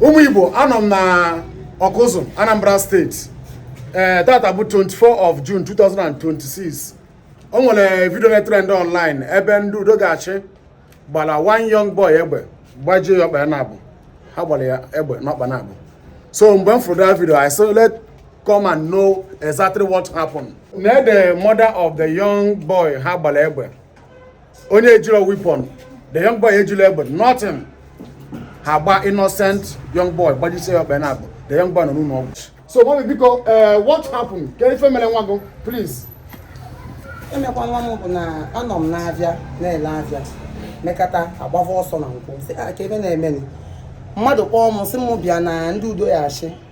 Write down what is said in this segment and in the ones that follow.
ụmụ igbo anọ m na ọkụzụ anambra state ee eh, tata bụ 24 of june 2026 o nwere video na-etrend online ebe ndị udo ga-achị gbala one young boy egbe gbajie ya ọkpa naabụ ha gbala ya egbe n'ọkpa naabụ so mgbe m fụrụ that video I said let come and know exactly what happened na the mother of the young boy ha gbala egbe onye ejilọ weapon the young boy ejilọ egbe nothing ha gba innocent young boy gbajisie ya ọkpa naabụ the young boy nọ n'ụlọ ọgwụ so mummy biko eh, what happened ka ife mere nwa gị please ive mekwa nwa m bụ na anọ m n'avịa na-ele avịa mekata agbava ọsọ na nkwọ sị ah, ka ive na-emeni mmadụ kpọọ m sị m bịa na ndị udo ya-achị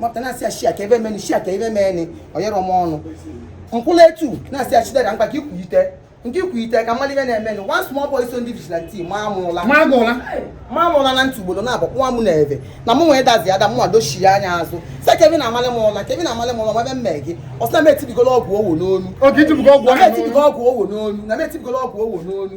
nwata na-asị ya shia ka ive meni shia ka ive meni o yerọ m ọnụ m kwụla etu na-asị ya chidera mkpa ka ikwuyite nke ikwuyite ka mmadụ ive na-emeni one small boy so ndị vigilante maa m ụla maa m ụla maa m ụla na ntị ugboro naabụ nwa m na-eve na mụ nwee dazi ada mụnwa dochie anya azụ sị ka ive na-amalị m ụla ka ive na-amalị m ụla ma ive m mee gị ọ sị na m etibigolo ọgwụ owo n'onu oge itibugo ọgwụ na m ahụ etibigo ọgwụ owo n'onu na m etibigo ọgwụ owo n'onu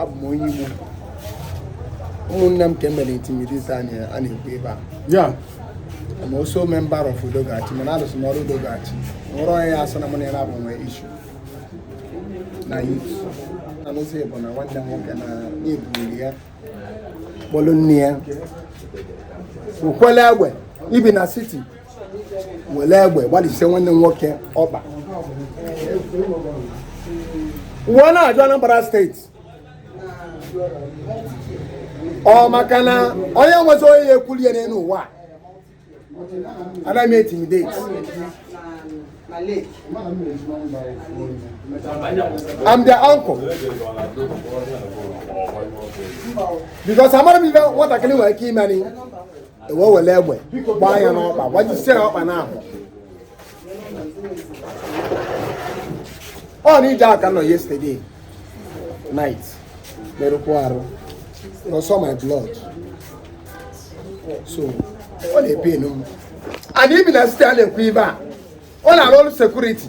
abụ m onye Igbo ụmụnne m ka e mere intimidation a na-ekwu ebe a ya I'm also a member of Udogachi mana alụsị m ọrụ Udogachi nwere onye ya asị na mụ na ya na-abụ nwe issue na youth na n'ụzọ ịbụ na nwanne m nwoke na na-ebuli ya kpọlụ nne ya okwele egbe ibi na city were egbe gbajisie nwanne m nwoke ọkpa m wee na-ajụ Anambra state ọ maka na onye nwezi onye ya ekwuli ya n'elu ụwa a na-eme intimidate I'm their uncle. Because I'm not even what I can do, I keep money. e wee wele egbe gbaa ya n'ọkpa gbajisie ya ọkpa naabụ ọ na ije aka nọ yesterday night merụkwa arụ na ọsọ my blood so ọ na-epain m and ibi na city a na-ekwu ibe a ọ na-arụ ọrụ security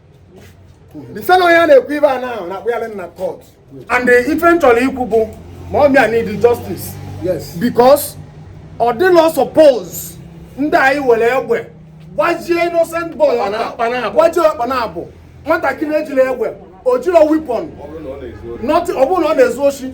dịsa na onye a na-ekwu ibe a na ahụ na-akpụ ya na court and ive m chọlọ ikwu bụ mummy a need justice yes because ọ dịlọ suppose ndị anyị were egbe gbajie innocent boy gbajie ọkpa naabụ nwatakịrị ejilọ egbe o jiro weapon ọ bụrụ na ọ na-ezu oshi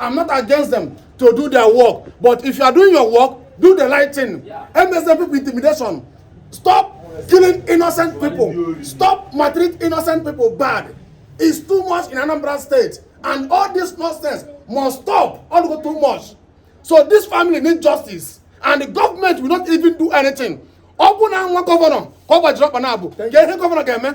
I'm not against them to do their work. But if you are doing your work, do the right thing. Yeah. MSM people intimidation. Stop killing innocent people. Stop maltreating innocent people bad. It's too much in Anambra State. And all this nonsense must stop. All go too much. So this family need justice. And the government will not even do anything. Ọ bụ na nwa gọvanọ ka ọ gbajiri ọkpa na-abụ. Thank you. Governor, governọ ga-eme.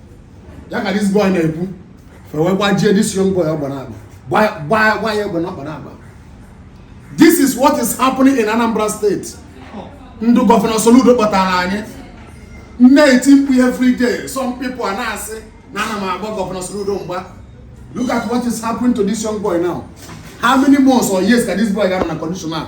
ya ka this boy na-ekwu fa wee gbajie this young boy ọkpa naabọ gbaa gba ya egbe na ọkpa naabọ this is what is happening in Anambra State ndị gọvanọ Soludo kpọtara anyị m na-eti mkpu every day some people a na-asị na ana m agba gọvanọ Soludo mgba look at what is happening to this young boy now how many months or years ka this boy ga-anọ na condition a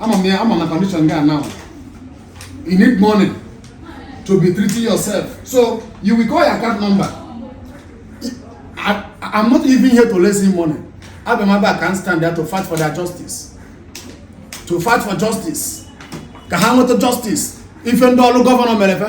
ama m ya ama na condition gị now you need money to be treating yourself so you will call your account number I, I'm not even here to raise you money abịa m abịa can stand there to fight for their justice to fight for justice ka ha nweta justice ife ndị ọrụ gọvanọ mere fe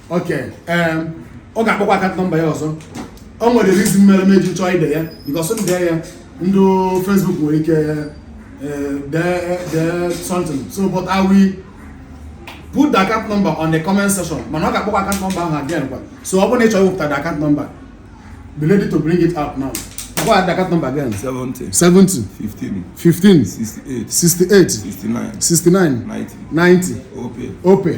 okay ee ọ ga-akpọkwa account number ya ọzọ o nwere reason mere m eji chọọ ide ya because m dee ya ndị Facebook nwere ike eh, dee dee something so but I will put the account number on the comment section mana ọ ga-akpọkwa account number ahụ again kwa so ọ bụrụ na ị chọrọ iwepụta the account number be ready to bring it out now kpọkwaa the account number again 70 70 15 15 68 68 69 69 90 90 OPay OPay